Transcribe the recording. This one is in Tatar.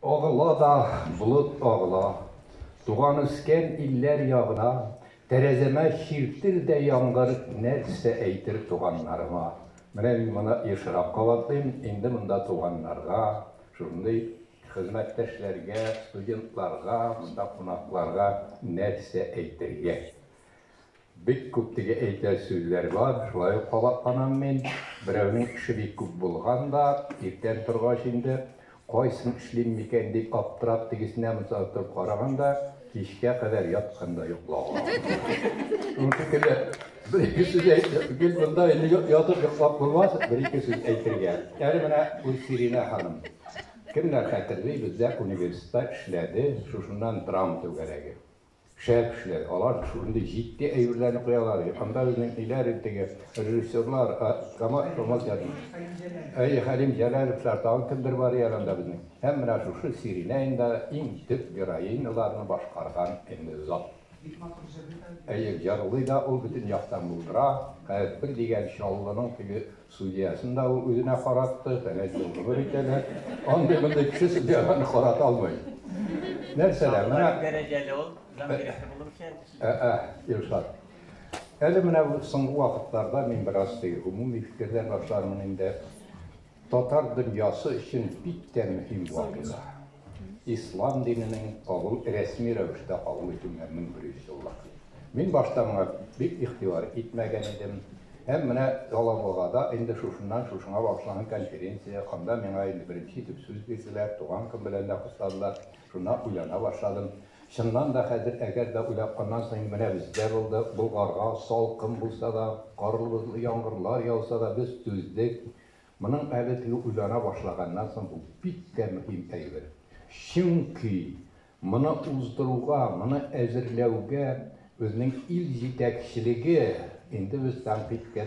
Агыла да болыт агыла, Туган-үскән илләр ягына, Тәрәзәмә чиртер дә яңгыр, Нәрсә әйтер туганнарыма? Менә мин моны ешрак кабатлыйм, инде монда туганнарга, шушындый хезмәттәшләргә, студентларга, монда кунакларга нәрсә әйтергә? Бик күп теге әйтер сүзләр бар, шулай ук кабатланам мин. Берәүнең эше бик күп булган да, иртән торгач инде, кайсын эшлим микән дип аптырап, тегесенә, монысына торып караган да, кичкә кадәр яткан да йоклаган. Шуның шикелле, бер-ике сүз әйтеп, гел монда инде ятып йоклап булмас, бер-ике сүз әйтергә. Әле менә Гөлсиринә ханым. Кемнәр хәтерли, бездә университетта эшләде, шушыннан драма түгәрәге. Шәп эшләр, алар шундый җитди әйберләрне куялар, анда безнең ниләр инде теге режиссерлар, а, камаз, камаз ятмый. Әй, Хәлим Җәләлевләр, тагын кемдер бар иде әле анда безнең. Һәм менә шушы Сиринә инде иң төп героиняларны башкарган инде зат. Әйе, җырлый да ул, бөтен яктан булдыра, хәер, бер дигән Чаллының теге Судьясын да ул үзенә каратты, фәлән ел гомер итәләр. Андый-мондый кеше судьяларны карата алмый. Нәрсә дә, менә... Дәрәҗәле ул, җан биреше булып эшләр кеше. Ә-ә, Илшат. Әле менә бу соңгы вакытларда мин бераз теге гомуми фикерләр башлармын инде. Татар дөньясы өчен бик тә мөһим вакыйга. Ислам диненең кабул, рәсми рәвештә кабул итүенә 1100 еллык. Мин башта моңа бик игътибар итмәгән идем. Һәм менә Алабугада инде шушыннан шушыңа багышланган конференция, анда миңа инде беренче итеп сүз бирделәр, туган көн белән дә кутладылар. Шуннан уйлана башладым. Чыннан да хәзер, әгәр дә уйлап, аннан соң менә бездә булды, Болгарга салкын булса да, карлы-бозлы яңгырлар яуса да, без түздек. Моның әле теге уйлана башлаганнан соң бу бик тә мөһим әйбер. Чөнки моны уздыруга, моны әзерләүгә безнең ил җитәкчелеге, инде без тәнкыйтькә